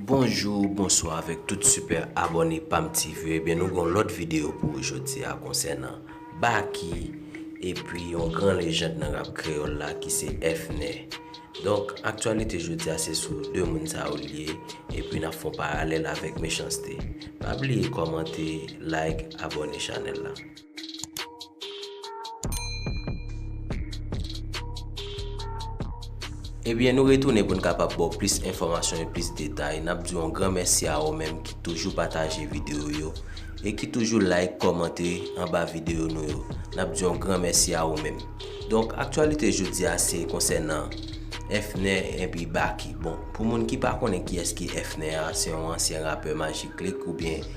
Bonjou bonswa avèk tout sipè abòne pam ti vye ebyen nou gon lòt videyo pou ou jodi a konsènan Baky epi yon gran lejand nan rap kreyòl la ki se Fnè donk aktyalite jodi a se sou 2 moun sa yo liye epi nap fon paralèl avèk Mechans-T pa bliye kòmante like abòne chanèl la. Ebyen nou retounen pou n kapab ba w plis enfòmasyon e plis detay. N ap di w yon gran mèsi a ou menm ki toujou pataje videyo yo e ki toujou like, kòmante anba videyo nou yo. N ap di yon gran mèsi a ou menm. Donk, aktyalite jodi a se konsènan Fnè epi Baky. Bon, pou moun ki pa konnen kiyès ki Fnè a, se yon ansyen rapè Majik Click oubyen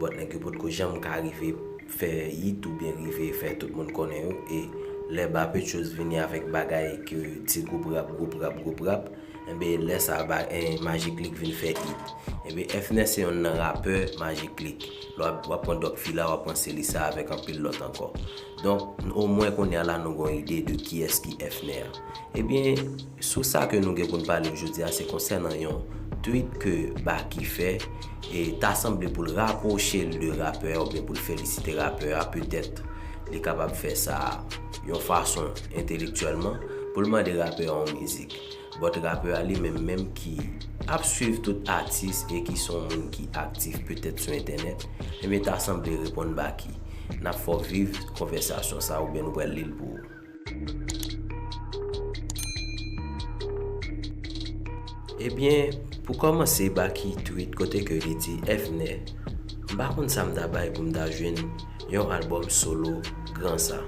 But nèg yo potko janm ka rive fè yit oubyen rive fè tout moun konnen yo e lè Bapechos vini avèk bagay ke ti gwoup rap gwoup rap gwoup rap enben lè sa Maji Click vin fè yit. Enben Fnè se yonn nan rapè Maji Click. Lè wap pran Doc Fila wap pran Selisa avèk anpil lòt ankò. Donk omwen kounye a la nou gon ide de kiyès ki Fnè a. Ebyen. Sous sa ke nou gen pou n pale ojodi a se konsènan yon tweet ke Baky fè e ta sanble pou l rapwoche l de rapè a oubyen pou l felisite rapè a petèt li kapab fè sa yon fason entelektyèlman pou l mande rapè a yon mizik but rapè a li menm menm ki ap swiv tout atis e ki se yon moun ki aktif petèt sou entènèt ebyen ta sanble reponn Baky n ap fè w viv konvèsasyon sa oubyen nou pral li l pou ou. Ebyen pou kòmanse Baky tweet kote ke li di Evnè m pa konn sa m ta bay pou m ta jwenn yon albòm solo gran sa.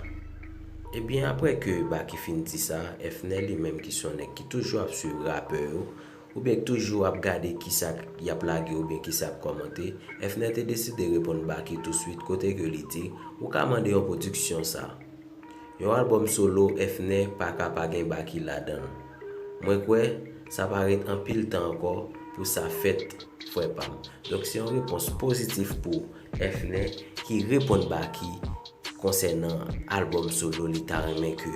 Ebyen aprè ke Baky fin di sa, Evnè li menm ki son nèg ki toujou ap swiv rapè yo Ou byen toujou ap gade kisa k yap lage ou byen kisa yap kòmante, Efner te deside reponn Baky tou swit kote ke li di, ou ka mande yon pwodiksyon sa. Yon albòm solo Efner pa ka pa gen Baky ladan l. Mwen kwè, sa pa ret anpil tan ankò pou sa fèt frè pa m. Donk se yon repons pozitif pou Efner ki reponn Baky konsènan albòm solo li ta renmen ke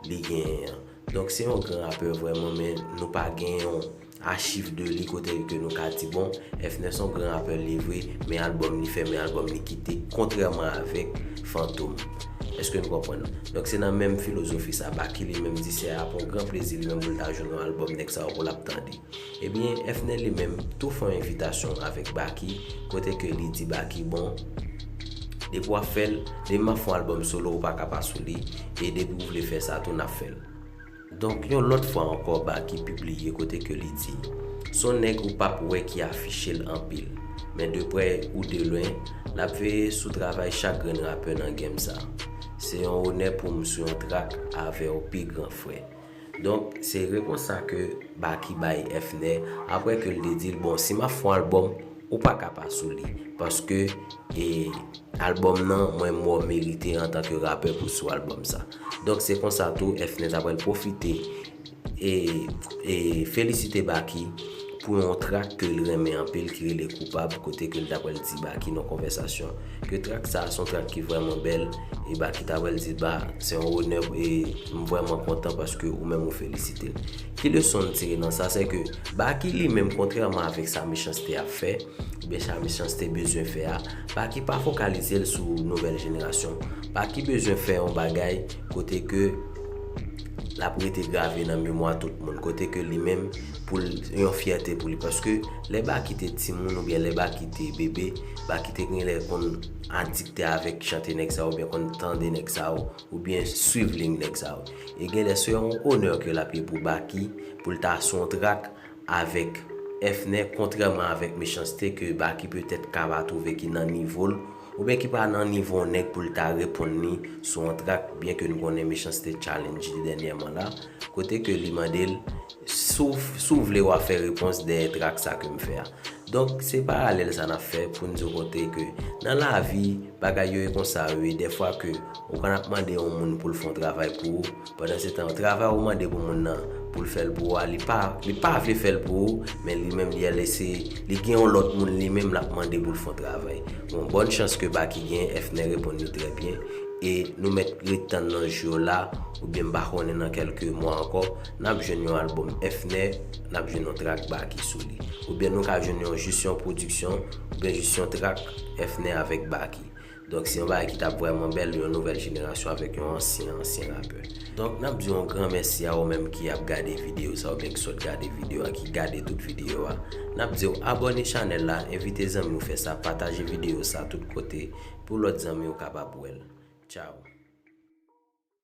li genyen an. Donk se yon gran rapè vrèman men nou pa gen yon achiv de li kote ke nou ka di bon Fnè son gran rapè li vre men album li fè men album li kite kontrèman avèk Fantom eske nou konprann donk se nan menm filozofi sa Baky li menm di se ap yon gran plezi li menm pou l ta jwenn yon album nèg sa yo pou l ap tande. Ebyen Efne li menm tou fon envitasyon avek Baky kote ke li di Baky bon depi wap fel depi map fon album solo ou paka pa sou li e depi ou vle fè sa tou nap fèl donk yon lot fwa anko Baky pibliye kote ke li di son neg ou pap wè ki afichel anpil men de prè ou de lwen nap veye sou travay chak grenn rapè nan game sa se yon onè poum sou yon track avew pi gran frè. Donk, se repons sa ke Baky bay Effner apre ke l te di l, bon, si m ap fon albòm, ou pa ka pa sou li, paske e albòm nan, mwen mwen w merite antan ke rapè pou sou albòm sa. Donk, se konsa tou Effner ta pral pwofite e e felisite Baky, pou yon trak ke l renmen anpil ki rele Koupab kote ke l ta pral di Baky nan konvèsasyon ke trak sa a se yon trak ki vrèman bèl e Baky ta pral di ba se yon onè e m vrèman kontan paske ou menm ou felisite l. Ki leson n tire nan sa se ke Baky li menm kontrèman avèk sa Mechanste ap fè oubyen sa Mechanste bezwen fè a Baky pa fokalize l sou nouvèl jenerasyon Baky bezwen fè yon bagay kote ke l ap rete grave nan memwa tout moun kote ke li menm pou l yon fyète pou li paske lè Baky te timoun oubyen lè Baky te bebe, Baky te gen lè konn adikte avèk chante nèg sa yo oubyen konn tande nèg sa yo oubyen swiv liy nèg sa yo. E gen lè se yon onè ke l ap ye pou Baky pou l ta sou yon trak avèk Fnè kontrèman avèk Mechanste ke Baky petèt ka pa twouve ki nan nivo l oubyen ki pa nan nivo yon nèg pou l ta reponn li sou yon trak byen ke n konnen Mechanste challenge li dènyèman la kote ke li mande l Si w vle wa fè repons dèyè trak sa ke m fè a. Donk se paralèl sa nap fè pou n di w kote ke nan lavi bagay yo e konsa yo ye dèfwa ke ou konn ap mande yon moun pou l fè yon travay pou ou pandan se tan travay ou mande pou moun nan pou l fè l pou ou a li pa li pa vle fè l pou ou men li menm li al eseye li gen yon lòt moun li menm lap mande pou l fè yon travay. Bon bòn chans ke Baky genyen Efner reponn li trè byen e nou mèt ret tann nan jou yo la oubyen m pa konnen nan kèlke mwa ankò. N ap jwenn yon albòm Efne, n ap jwenn yon trak Baky sou li. Oubyen nou ka jwenn yon jis yon pwodiksyon, oubyen jis yon trak Efne avèk Baky. Donk se yon bagay ki t ap vrèman bèl, yon nouvèl jenerasyon avèk yon ansyen ansyen rapè. Donk n ap di w yon gran mèsi a ou menm ki ap gade videyo sa oubyen ki sot gade videyo a, ki gade tout videyo a. N ap di w abòne chanèl la, envite zanmi w fè sa, pataje videyo sa tout kote pou lòt zanmi w kapab wè l. Tchaw!